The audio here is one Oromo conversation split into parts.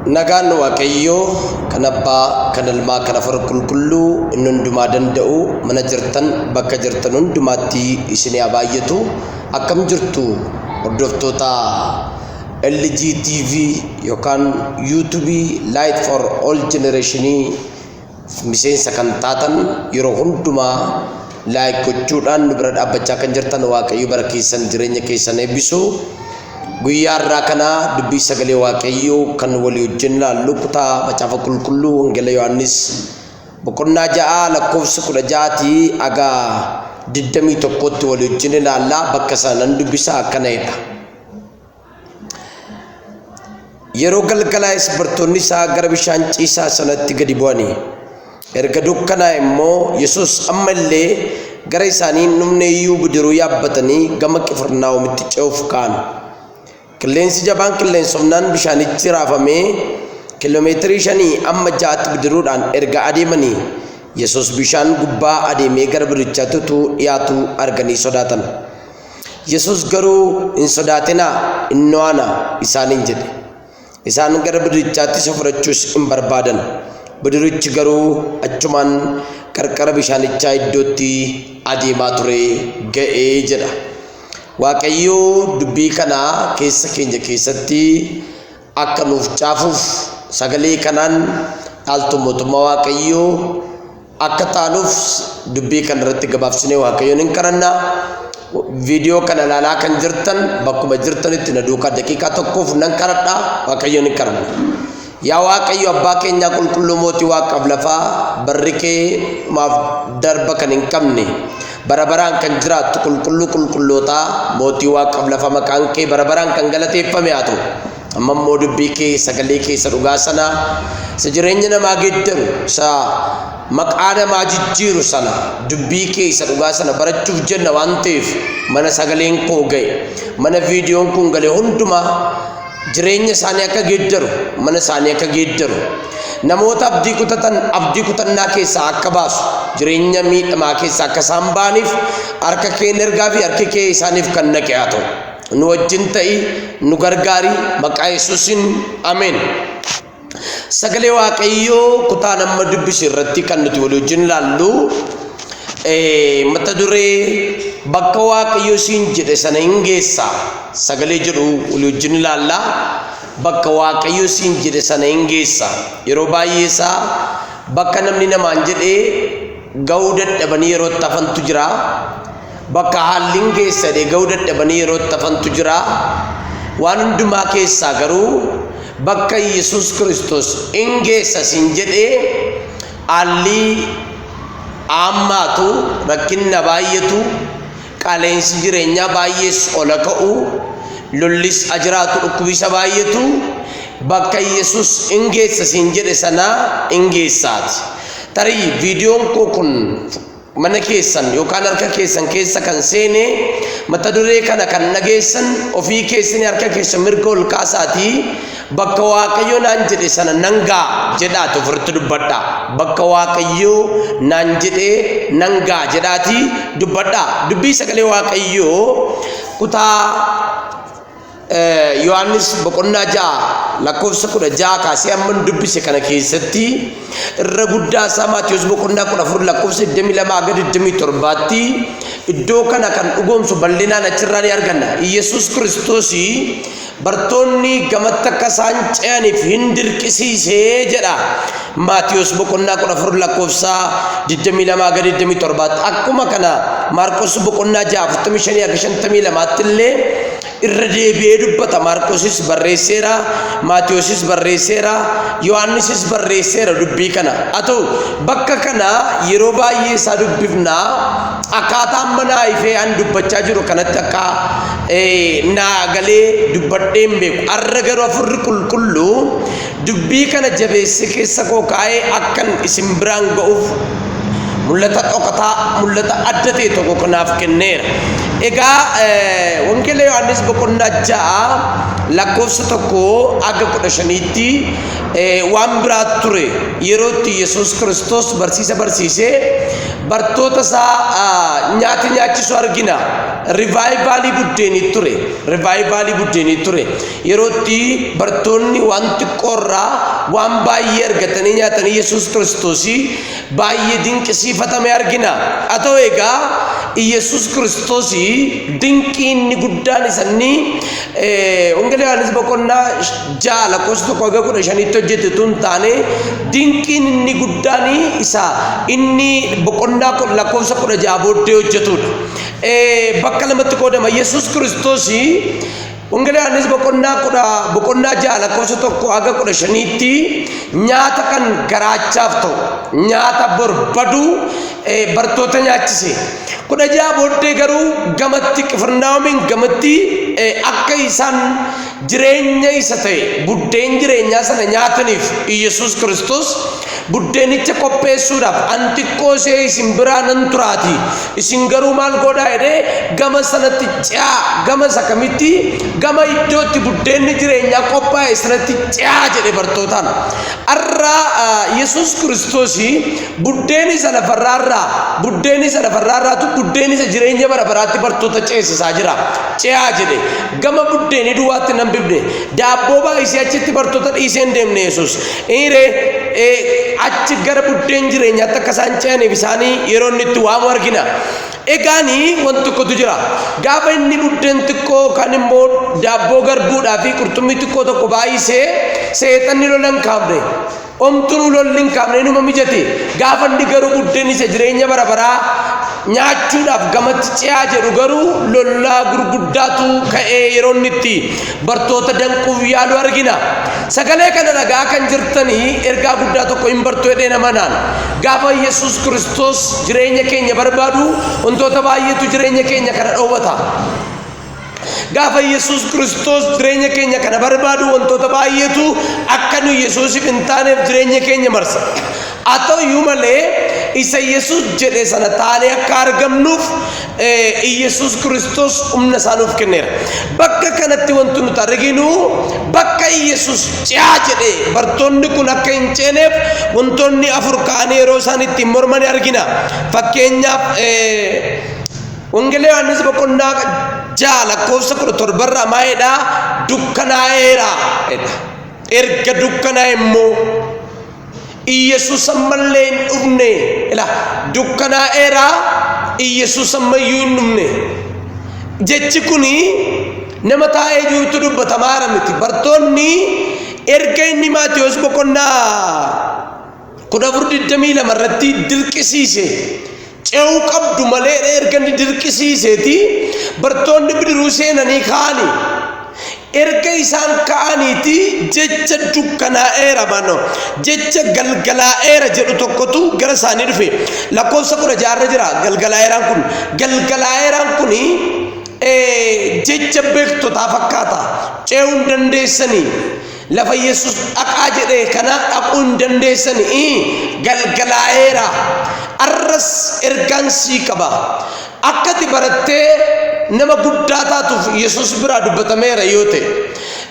Nagaan Waaqayyoo kan abbaa kan ilmaa kan afur qulqulluu inni hundumaa danda'u mana jirtan bakka jirtan hundumaatti isinii haa baay'atu akkam jirtu hordoftoota LG TV yookaan YouTube Light for All Generation Miseensa kan taatan yeroo hundumaa like gochuudhaan nu bira dhaabbachaa kan jirtan Waaqayyo bara keessan jireenya keessan eebbisu. Guyyaa irraa kana dubbii sagalee Waaqayyoo kan walii wajjin laallu kutaa macaafa qulqulluu Wangeela Yohaannis boqonnaa ja'a lakkoofsa kudha ja'aatii haga digdamii tokkootti walii wajjin ilaalla bakka sana nan dubbisa akkana jedha. Yeroo galgalaa'es bartoonni isaa gara bishaan ciisaa sanatti gadi bu'ani. Erga dukkanaa'e immoo Yesuus amma illee gara isaanii hin dhumne iyyuu bidiruu yaabbatanii gama Qifirnaahomitti ce'uuf ka'an. Qilleensi jabaan qilleensofnaan bishaanichi raafamee kiiloomeetirii shanii amma ja'atti bidiruudhaan erga adeemanii Yesuus bishaan gubbaa adeemee gara bidirichaatti utuu dhiyaatu arganii sodaatan. Yesuus garuu, Hin sodaatinaa, innoo ana isaaniin jedhe. Isaan gara bidirichaatti isa fudhachuus in barbaadan, bidirichi garuu achumaan qarqara bishaanichaa iddootti adeemaa ture ga'e jedha. Waaqayyo dubbii kana keessa keenya keessatti akka nuuf caafuuf sagalee kanaan dhaaltuu mootummaa Waaqayyoo Akka taanuuf dubbii kana irratti gabaabsinee Waaqayyoon hin kadhanna. Viidiyoo kana ilaalaa kan jirtan bakkuma jirtanitti na duukaa daqiiqaa tokkoof nan kadhadha Waaqayyoon hin kadhanna. Yaa Waaqayyo abbaa keenyaa qulqulluu mootii waaqaaf lafaa barri kee maaf darba kan hin qabne bara baraan kan jiraattu qulqulluu qulqullootaa mootii waaqaaf lafa maqaan kee bara baraan kan galateeffame haa ta'u. Amma immoo dubbii kee sagalee kee isa dhugaa sana isa jireenya namaa geeddaru isa maqaa namaa jijjiiru sana dubbii kee isa dhugaa sana barachuuf jenna waan ta'eef mana sagaleen koo ga'e mana viidiyoon kun gale hundumaa jireenya isaanii akka geeddaru mana isaanii akka geeddaru namoota abdii kutatan abdii kutannaa keessaa akka baasu jireenya miidhamaa keessaa akka isaan ba'aniif harka kee ergaa fi harki kee isaaniif kan naqe haa ta'u. nu wajjin ta'i nu gargaari maqaa yesuusin ameen sagalee waaqayyoo kutaa nama dubbise irratti kan nuti walii wajjin laallu mata duree bakka waaqayyo siin jedhe sana hin geessa sagalee jedhu walii wajjin ilaalla bakka waaqayyo siin jedhe sana hin geessa yeroo baay'ee isaa bakka namni namaan jedhee ga'uu dadhabanii yeroo itti hafantu jira Bakka haallin geessa deega'uu dadhabanii yeroo itti hafantu jira. Waan hundumaa keessaa garuu bakka Yesuus Kiristoos in geessa siin jedhee haallii aammaatu rakkinna baay'eetu qaaleensi jireenyaa baay'ees ola ka'u lollis ajiraatu dhukkubisa baay'eetu bakka Yesuus in geessa siin jedhe sanaa in geessaati. Tarii viidiyoon koo kun mana keessan yookaan harka keessan keessa kan seene mata duree kana kan dhageessan ofii keessan harka keessa mirga ol kaasaatii bakka waaqayyo naan jedhe sana nan ga'a jedhaati ofirratti dubbadha bakka waaqayyo naan jedhe nan ga'a jedhaati dubbadha dubbii sagalee waaqayyo kutaa Yohaannis boqonnaa ja'a lakkoofsa kudha ja'a kaasee hamman dubbise kana keessatti irra guddaa isaa Maatiyus boqonnaa kudha afur lakkoofsa digdamii lamaa hanga digdamii torbaatti iddoo kana kan dhugoomsu bal'inaan achirraa ni arganna. Yesus Kiristoos bartoonni gamatti akka isaan ce'aniif hin dirqisiisee jedha. Maatiyos boqonnaa 14 lakkoofsaa 22 ga 27tti akkuma kana Maarqos boqonnaa 6 45 ga 52tti illee irra deebi'ee dubbata Maarqosis barreesseera Maatiyosis barreesseera Yohaannisis barreesseera dubbii kana haa ta'u bakka kana yeroo baay'ee isaa dubbifna akkaataa amma naa ifee an dubbachaa jiru kanatti akka naa galee dubbadheen beeku arra garuu afurri qulqulluu Dubbii kana jabeessee keessa koo kaa'ee akkan isin biraan ga'uuf mul'ata dhokataa, mul'ata adda ta'e tokko kanaaf kenneera. Egaa Wangeela Yohaannis boqonnaa ja'a lakkoofsa tokko hanga kudha shaniitti waan biraa ture yerootti Yesuus Kiristoos barsiisa barsiisee bartoota isaa nyaata nyaachisu argina. Rivaayivaalii buddeenii ture. Rivaayivaalii buddeenii ture. Yeroo itti bartoonni waan xiqqoo irraa waan baay'ee argatanii nyaatan Yesuus Kiristoos baay'ee dinqisiifatame argina. Haa ta'u egaa Yesuus Kiristoos dinqii inni guddaan isanii Wangeela Yohaannis boqonnaa ja'a lakkoofsa tokko haga kudha shaniitti hojjete tun taane dinqiin inni guddaan isa inni boqonnaa kun lakkoofsa kudha ja'a booddee hojjetudha. Bakka lamatti qoodama Yesuus Kiristoos Wangeela Yohaannis boqonnaa kudha boqonnaa ja'a lakkoofsa tokko haga kudha shaniitti nyaata kan garaachaaf ta'u nyaata barbadu bartoota nyaachise. Kudha ja'a booddee garuu gamatti qifirnaawomiin gamatti akka isaan jireenya isa ta'e buddeen jireenyaa sana nyaataniif Iyyasuus Kiristoos Buddeenicha qopheessuudhaaf an xiqqoo ishee isin biraa nan turaatii isin garuu maal godhaa jedhee gama sanatti ce'aa gama isa kamitti gama iddootti buddeenni jireenyaa qophaa'e sanatti ce'aa jedhe bartootaan. Har'a Yesuus Kiristoos buddeen isa lafarraarraa buddeen isa lafarraarraatu buddeen isa jireenya bara baraatti bartoota ceesisaa jira. Ce'aa jedhe gama buddeenii duwwaatti nan bibne daabboo baay'isee achitti bartoota dhiisee hin deemne Yesuus Eere achi gara buddeen jireenyaatti akka isaan ce'aniif isaanii yeroo inni itti waamu argina. Egaani wanti tokkotu jira. Gaafa inni buddeen xiqqoo kan immoo daabboo garbuudhaa fi qurxummii xiqqoo tokko baay'isee seexanni lola hin kaafne. Omtuun lolli hin kaafne inuma mijate. Gaafa inni garuu buddeen isa jireenya bara baraa nyaachuudhaaf gamatti ce'aa jedhu garuu lollaa gurguddaatu ka'ee yeroo inni itti bartoota danquuf yaalu argina. Sagalee kana dhaga'aa kan jirtanii ergaa guddaa tokko hin bartu jedhee nama naan. Gaafa Yesuus Kiristoos jireenya keenya barbaadu wantoota baay'eetu jireenya keenya kana dhoowwata. Gaafa Yesuus Kiristoos jireenya keenya kana barbaadu wantoota baay'eetu akka nu Yesuusiif hin taaneef jireenya keenya marsa. Haa ta'u iyyuu malee, isa Yesuus jedhe sana taanee akka argamnuuf Yesuus Kiristoos humna isaa nuuf kenneera. Bakka kanatti wanti nuti arginu bakka Yesuus ce'aa jedhe bartoonni kun akka hin ceeneef wantoonni afur ka'anii yeroo isaan ittiin mormanii argina. Fakkeenyaaf Wangeela Yohaannis boqonnaa ja'a lakkoofsa kudha torbarraa maa'eedha dukkanaa'eera. Erga dukkanaa'e immoo Iyyasuus ammallee hin dhufne. Ila dukkanaa'eera Iyyasuus ammayyuu hin dhufne. Jechi kun nama taa'ee jirutu dubbatamaara miti. Bartoonni erga inni Maatiyoos boqonnaa kudha afur digdamii lama irratti dirqisiise Ce'uu qabdu maleedha erga inni dirqisiiseeti bartoonni bidiruu seenanii ka'ani. Erga isaan ka'aniiti jecha dukkanaa'eera mano jecha galgalaa'eera jedhu tokkotu gara isaanii dhufe lakkoofsa kudha jaarra jira galgalaa'eeraan kun galgalaa'eeraan kun jecha beektotaa fakkaata ce'uu hin dandeessanii Lafa Yesus dhaqaa jedhe kanaa dhaquu hin dandeessan galgalaa'eera. Arras ergaan sii qaba. Akka ati barattee nama guddaa taatuuf Yesus biraa dubbatameera yoo ta'e.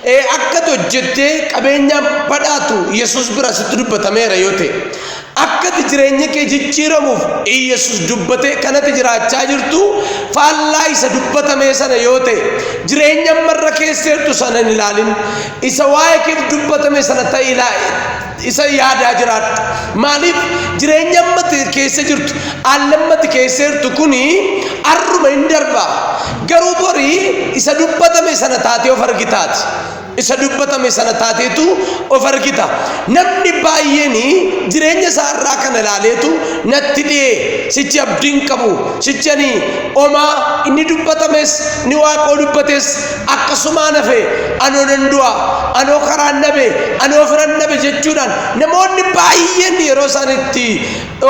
Ee, Akka ati hojjettee qabeenyaan badhaatu Yesus biraa sitti dubbatameera yoo ta'e. Akka ati jireenya kee jijjiiramuuf Iyyesuus dubbate kan ati jiraachaa jirtu faallaa isa dubbatamee sana yoo ta'e, jireenya amma irra keessa jirtu sana hin ilaalin. Isa waa'ee keef dubbatame sana ta'e ilaa isa yaadaa jiraadhu. Maaliif jireenya amma ati keessa jirtu, haalli amma ati keessa jirtu kuni har'uma hin darba. Garuu bori isa dubbatame sana taatee of argitaati. Isa dubbatame sana taateetu of argita. Namni baay'een jireenya isaa irraa kana ilaaleetu natti dhi'ee sichi abdiin qabu sichani omaa inni dubbatames ni waaqoo dubbates akkasumaan hafe anoo nan du'a anoo karaan dhabe anoo firan dhabe jechuudhaan namoonni baay'een yeroo isaan itti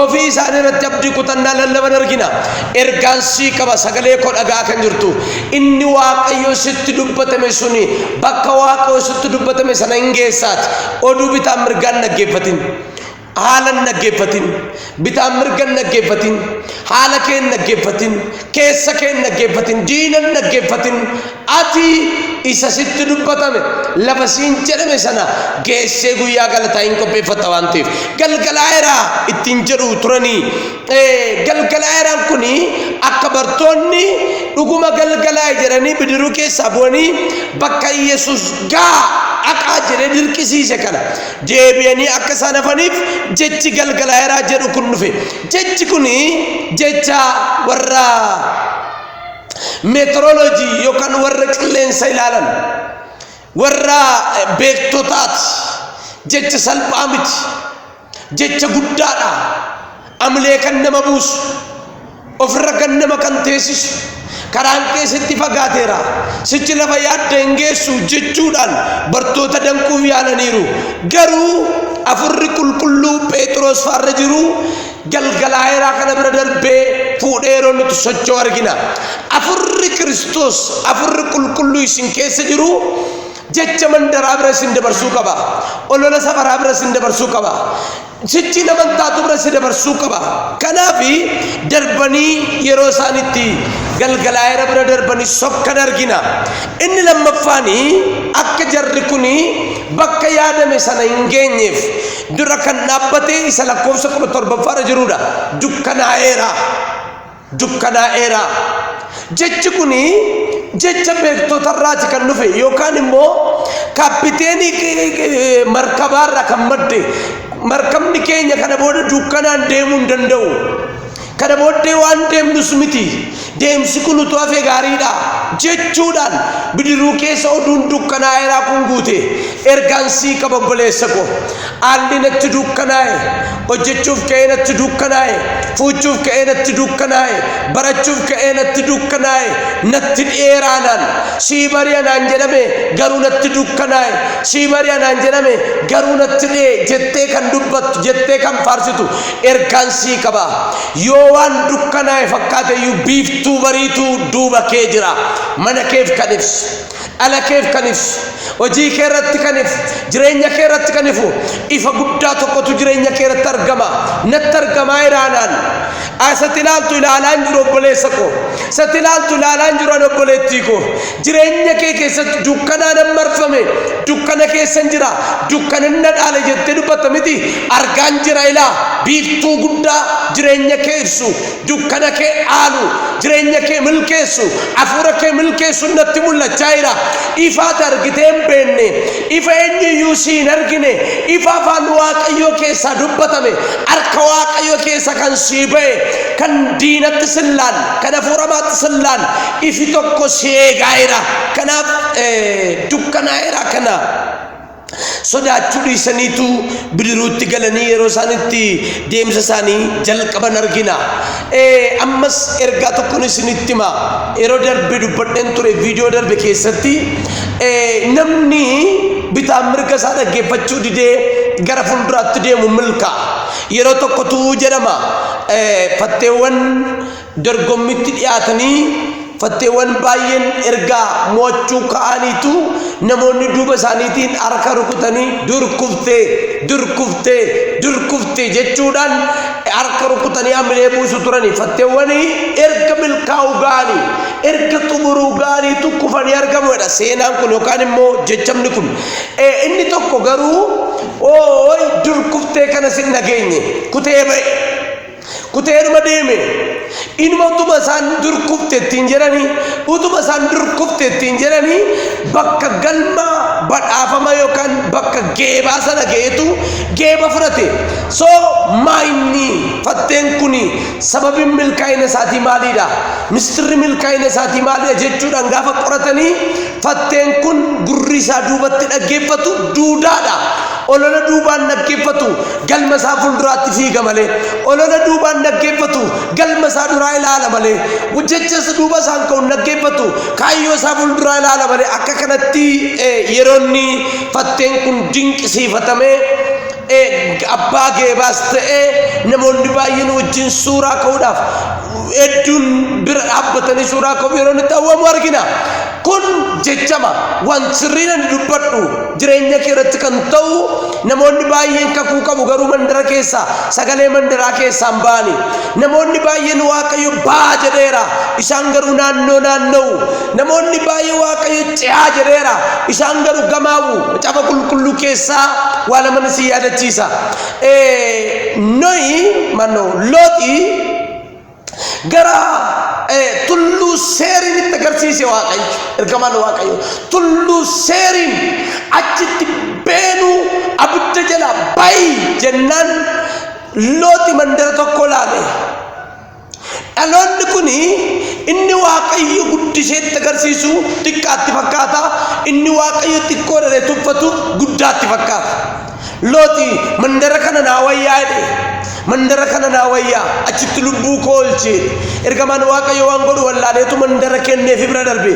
Ofii isaanii irratti abdii kutannaa lallaban argina. Ergaan sii qaba sagalee koo dhaga'aa kan jirtu. Inni Waaqayyo sitti dubbatame suni bakka Waaqayyo sitti dubbatame sana hin geessaati. Oduu bitaan mirgaan dhaggeeffatin. Haalan dhaggeeffatin. Bitaan mirgan dhaggeeffatin. Haala kee hin dhaggeeffatin. Keessa kee hin dhaggeeffatin. Diina hin dhaggeeffatin. Ati isa sitti dubbatame, lafa siin jedhame sana geessee guyyaa galataa in qopheeffatta waan ta'eef. Galgalaa'eera ittiin jedhu turanii. Eh, Galgalaa'eeraan kun akka bartoonni dhuguma galgalaa'e jedhanii bidiruu keessaa bu'anii bakka Yesus gaa dhaqaa jedhee dirqisiise kana deebi'anii akka isaan hafaniif jechi galgalaa'eeraa jedhu kun dhufe. Jechi kun jecha warra meetiroloojii yookaan warra qilleensa ilaalan warra beektotaati jecha salphaa miti jecha guddaadha amlee kan nama buusu ofirra kan nama kan teessisu karaan keessatti fagaateera sichi lafa yaadda hin geessu jechuudhaan bartoota danquuf yaalaniiru garuu afurri qulqulluu pheexroos faarra jiru galgalaa'eeraa kana bira darbee fuudhee yeroo nuti socho'u argina. Afurri Kiristoos, afurri qulqulluu isin keessa jiru jecha mandaraa bira isin dabarsuu qaba. Olola safaraa bira isin dabarsuu qaba. Sichi nama taatu bira isin dabarsuu qaba. Kanaaf darbanii yeroo isaan itti galgalaa'eera bira darbanii sokkan argina. Inni lammaffaan akka jarri kun bakka yaadame sana hin geenyeef dura kan dhaabbate isa lakkoofsa 17ffaa irra jirudha. Dukkanaa'eera. Dukkanaa'eera. Jechi kun jecha beektotarraati kan dhufe yookaan immoo kaappiteenii eh, markabaarraa kan madde markabni keenya kana booda dukkanaan deemuu hin danda'u. Kana booddee waan deemnus miti, deemsi kun utuu hafee gaariidha jechuudhaan bidiruu keessa oduun dukkanaa'eeraa kun guute. Ergaan sii qaba obboleessa ko. Haalli natti dukkanaa'e, hojjechuuf ka'ee natti dukkanaa'e, fuuchuuf ka'ee natti dukkanaa'e, barachuuf ka'ee natti dukkanaa'e, natti dhi'eeraanaan sii bari'a naan jedhame garuu natti dukkanaa'e, sii bari'a naan jedhame garuu natti dhi'e jettee kan dubbattu, jettee kan faarsitu Ergaan sii qaba. Yoo waan dukkanaa'e fakkaate iyyuu biiftuu bariitu duuba kee jira. Mana keef kan ibsu, dhala keef kan ibsu, hojii kee irratti kan ifu, jireenya kee irratti kan ifu ifa guddaa tokkotu jireenya kee irratti argama. Natti argamaa jira anaan. Isatti ilaaltu ilaalaan jiru obboleessa koo. Isatti ilaaltu ilaalaan jiru ani obboleettii koo. Jireenya kee keessatti dukkanaanan marfame, dukkana keessan jira, dukkanan na dhaale jettee dubbatta miti. Argaan jira ilaa, biiftuu guddaa jireenya kee ibsu, dukkana kee dhaalu, jireenya kee milkeessu, hafuura kee milkeessu natti mul'achaa jira. Ifaati argitee hin beekne, ifa eenyu iyyuu si hin argine, ifa afaan Waaqayyoo keessaa dubbatame, harka Waaqayyoo keessa kan sii ba'e, kan diinatti sin laalle, kan hafuuramaatti sin laalle, Ifi tokko si eegaa'eera, kanaaf dukkanaa'eera kana sodaachuu dhiisaniitu bidiruutti galanii yeroo isaan itti deemsa isaanii jalqaban argina. Ammas ergaa tokkon isinitti hima. Yeroo darbe dubbadheen ture viidiyoo darbe keessatti namni bitaan mirga isaa dhaggeeffachuu didee gara fuulduraatti deemu milkaa'a. Yeroo tokko tu'uu jedhama fatteewwan Dorgommitti dhiyaatanii fatteewwan baay'een ergaa mo'achuu ka'aniitu namoonni duuba isaaniitiin harka rukutanii dur kuftee dur kuftee dur kuftee jechuudhaan harka rukutanii hamilee buusu turanii fatteewwan erga milkaa'uu ga'anii erga xumuruu ga'aniitu kufanii argamuudha seenaan kun yookaan immoo jechamni kun Eh, inni tokko garuu ooy dur kuftee kana sin dhageenye kutee ba'e Kuteedhuma deeme. Inuma utuma isaan dur kufte ittiin jedhanii utuma isaan dur kufte ittiin jedhanii bakka galma badhaafama yookaan bakka geebaa sana ga'eetu geeba fudhate. So maayinni fatteen kun sababiin milkaa'ina isaatii maaliidha? Mistirri milkaa'ina isaatii maaliidha jechuudhaan gaafa qoratanii fatteen kun gurri isaa duubatti dhaggeeffatu duudaadha. Olola duubaan dhaggeeffatu galma isaa fuulduraatti fiiga malee, olola duubaan dhaggeeffatu galma isaa duraa ilaala malee, jecha isa duuba isaan ka'u hin dhaggeeffatu kaayyoo isaa fuulduraa ilaala malee akka kanatti eh, yeroonni fatteen kun dinqisiifatamee eh, abbaa geebaas ta'ee namoonni baay'een wajjin suuraa ka'uudhaaf hedduun bira dhaabbatanii suuraa ka'uuf yeroon itti hawwamu argina. Kun jechama, Wanti sirriin ani dubbadhu jireenya kee irratti kan ta'u, namoonni baay'een kakuu qabu garuu mandara keessaa sagalee mandaraa keessaa hin ba'ani. Namoonni baay'een Waaqayyo baa jedheera, isaan garuu naannoo naanna'u. Namoonni baay'ee Waaqayyo ce'aa jedheera, isaan garuu gamaa'u. Macaafa qulqulluu keessaa waa laman isin yaadachiisa. Ee, Nohi, mannoo, Looxi gara tulluu seeriin itti agarsiise waaqayyo ergamaan waaqayyo tulluu seeriin achitti beenuu abidda jala bayi jennaan looti mandara tokko laale dhaloonni kun inni waaqayyo guddisee itti agarsiisu xiqqaatti fakkaata inni waaqayyo xiqqoo dhalee tuffatu guddaatti fakkaata Looti mandara kana naa wayyaa jedhe. Mandara kana naa wayyaa achitti lubbuu koo oolchee ergamaan waaqayyo waan godhu wallaaleetu mandara kenneefi bira darbe.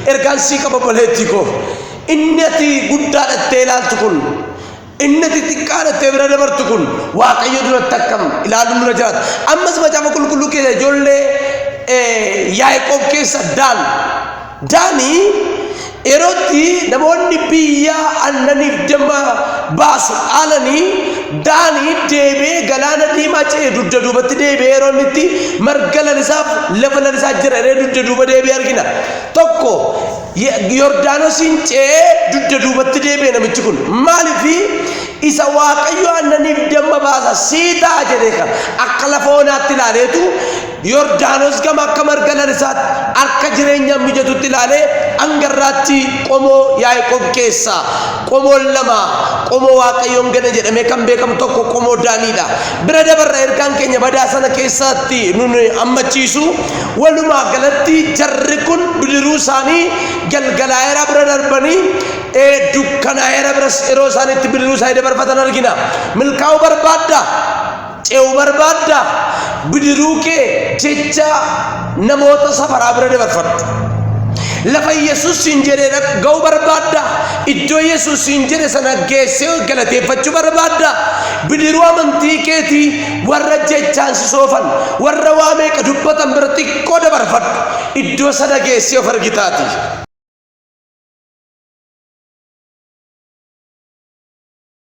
Ergaan sii qaba obboleettii koo. Inni ati guddaa dhattee ilaaltu kun inni ati xiqqaa dhattee bira dabartu kun waaqayyo duratti akkam ilaaluun dura jiraata. Ammas macaafa qulqulluu keessa ijoollee Yaaqoob keessa daal Daanii, Yeroo itti namoonni biyya aannaniif damma baasu dhaalanii Daanii deebi'ee galaana diimaa ce'e dugda duubatti deebi'ee yeroo inni itti marga lalisaaf lafa lalisaa jira jedhee dugda duuba deebi'ee argina. Tokko Ye- Yordaanosiin ce'ee dugda duubatti deebi'e namichi kun maaliifi isa waaqayyo aannaniif damma baasa sii ta'a jedhee kan akka lafa onaatti ilaaleetu Yordaanos gama akka marga lalisaatti, akka jireenyaaf mijatutti ilaalee hanga irraatti qomoo Yaaqoob keessaa qomoon lama qomoo Waaqayyoon gana jedhamee kan beekamu tokko qomoo Daaniidha. Bira dabarra ergaan keenya badaa sana keessaatti nun ammachiisu walumaa galatti jarri kun bidiruu isaanii galgalaa'eera bira darbanii ee dukkanaa'eera biras yeroo isaaniitti bidiruu isaanii dabarfatan argina. Milkaa'uu barbaadda? ce'u barbaadda bidiruu kee jecha namoota safaraa bira dabarfadhu. Lafa Yesuus siin jedhe ga'uu barbaadda iddoo Yesuus siin jedhe sana geessee galateeffachuu barbaadda bidiruu amantii keetii warra jechaan si soofan warra waa meeqa dubbatan bira xiqqoo dabarfadhu iddoo sana geessee of argitaati.